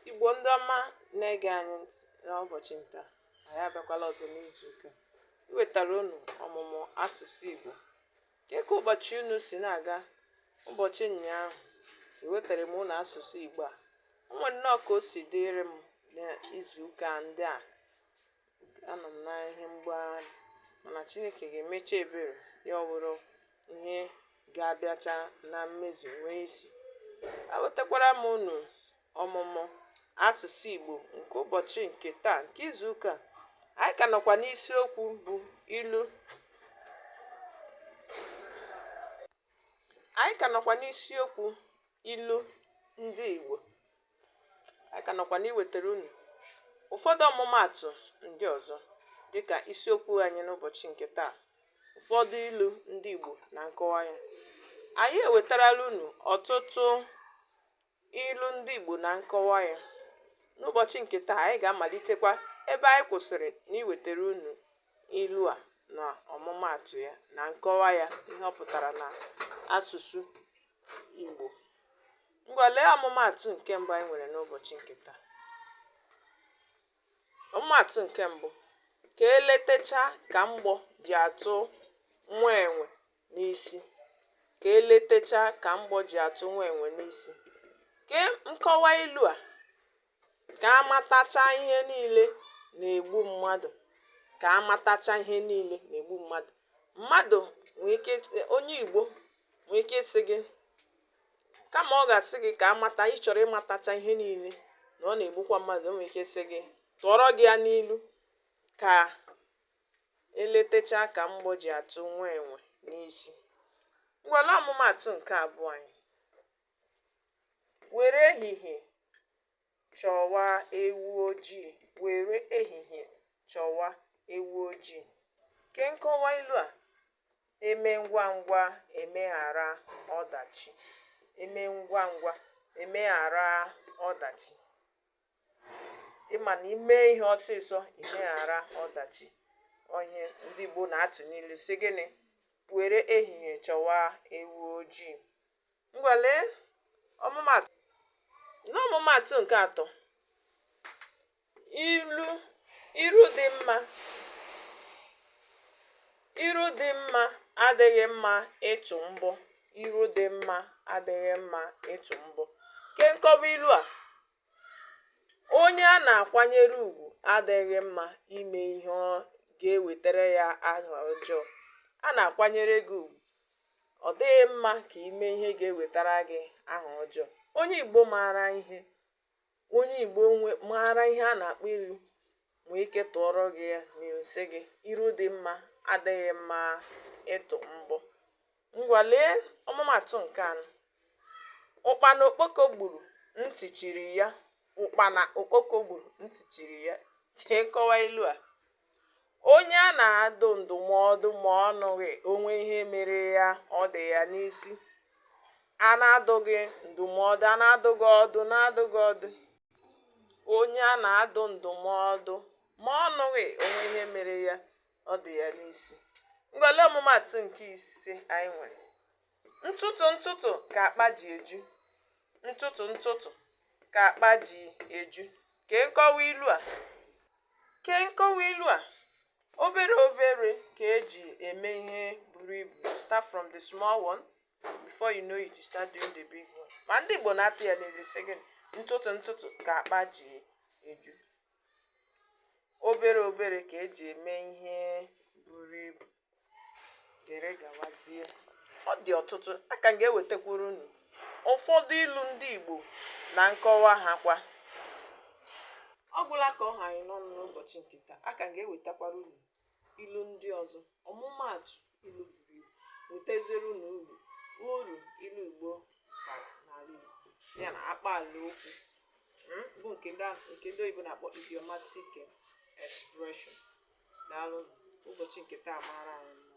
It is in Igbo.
Igbo ndị ọma na-ege anyị ntị n'ụbọchị taa anyị abịakwala ọzọ n'izu ụka iwetara unu ọmụmụ asụsụ Igbo kee ka ụbọchị unu si na-aga ụbọchị ụnyaahụ ewetara m unu asụsụ Igbo a o nwere nnọọ ka o si dịrị m n'izu ụka ndị a anọ m na ihe mgbagharị mana chineke ga-emecha ebere ya ọ bụrụ ihe ga-abịacha na mmezu nwee isi ewetakwara m unu ọmụmụ asụsụ igbo nke ụbọchị nke taa nke izu ụka anyị ka nọkwa n'isiokwu bụ ilu anyị ka nọkwa n'isiokwu ilu ndị igbo anyị ka nọkwa n'iwetara unu ụfọdụ ọmụmaatụ ndị ọzọ dịka isiokwu anyị n'ụbọchị nke taa ụfọdụ ilu ndị Igbo na nkọwa ya anyị ewetarala unu ọtụtụ ilu ndị Igbo na nkọwa ya n'ụbọchị nke taa anyị ga-amalitekwa ebe anyị kwụsịrị n'iwetara unu ilu a na ọmụmaatụ ya na nkọwa ya ihe ọ pụtara na asụsụ Igbo Ngwa lee ọmụmaatụ nke mbụ anyị nwere n'ụbọchị nke taa. Ọmụmaatụ nke mbụ, ka eletecha ka mgbọ ji atụ nwa enwe n'isi. Ka eletecha ka mgbọ ji atụ nwa enwe n'isi. Kee nkọwa ilu a. Ka a matacha ihe niile na-egbu mmadụ. Ka a matacha ihe niile na-egbu mmadụ. Mmadụ nwere ike ịsị onye Igbo nwere ike ịsị gị kama ọ ga-asị gị ka a mata ị chọrọ ịmatacha ihe niile na ọ na-egbukwa mmadụ o nwere ike ịsị gị tụọrọ gị ya n'ilu ka eletechaa ka mgbọ ji atụ nwa enwe n'isi. Ngwa lee ọmụmaatụ nke abụọ anyị. Were ehihie chọwa ewu ojii. Were ehihie chọwa ewu ojii. Kee nkọwa ilu a, eme ngwa ngwa emeghara ọdachi. Eme ngwa ngwa emeghara ọdachi. Ị ma na ime ihe ọsịsọ imeghara ọdachi. Ọ ihe ndị Igbo na-atụ n'ilu sị gịnị? Were ehihie chọwa ewu ojii. Ngwa lee ọmụmaatụ. N'ọmụmaatụ nke atọ, iru dị mma iru dị mma adịghị mma ịtụ mbọ iru dị mma adịghị mma ịtụ mbọ. Kee nkọwa ilu a, onye a na-akwanyere ugwu adịghị mma ime ihe ga-ewetara ya aha ọjọọ. A na-akwanyere gị ugwu ọ dịghị mma ka i mee ihe ga-ewetara gị aha ọjọọ onye igbo maara ihe onye igbo maara ihe a na-akpọ ilu nwee ike tụọrọ gị ya na-asị gị iru dị mma adịghị mma ịtụ mbọ ngwa lee ọmụmatụ nke anọ ụkpana okpoko gburu ntị chiri ya ụkpana okpoko gburu ntị chiri ya kee nkọwa ilu a Onye a na-adụ ndụmọdụ ma ọ nụghị o nwee ihe mere ya ọ dị ya n'isi. A na-adụ gị ndụmọdụ, a na-adụ gị ọdụ, na-adụ gị ọdụ. Onye a na-adụ ndụmọdụ ma ọ nụghị o nwee ihe mere ya ọ dị ya n'isi. Ngwa lee ọmụmatụ nke ise anyị nwere. ntụtụ ntụtụ ka akpa ji eju ntụtụ ntụtụ ka akpa ji eju kee nkọwa ilu a kee nkọwa ilu a obere obere ka e ji eme ihe buru ibu start from the small one before you know it you start doing the big one ma ndị Igbo na-atụ ya n'ilu sị gị ntụtụ ntụtụ ka akpa ji eju obere obere ka e ji eme ihe buru ibu dere gawazie ọ dị ọtụtụ a ka m ga-ewetakwuru unu ụfọdụ ilu ndị Igbo na nkọwa ha kwa ọ gwụla ka ọ ha anyị n'ọnụ n'ụbọchị nke taa a ka m ga-ewetakwara unu ilu ndị ọzọ ọmụmaatụ ilu buru ibu wetaziere unu uru uru ilu Igbo bara n'ala Igbo ya na akpaala okwu mm, bụ nke ndị oyibo na-akpọ idiomatic expression daalụ ụbọchị nke taa mara anyị mma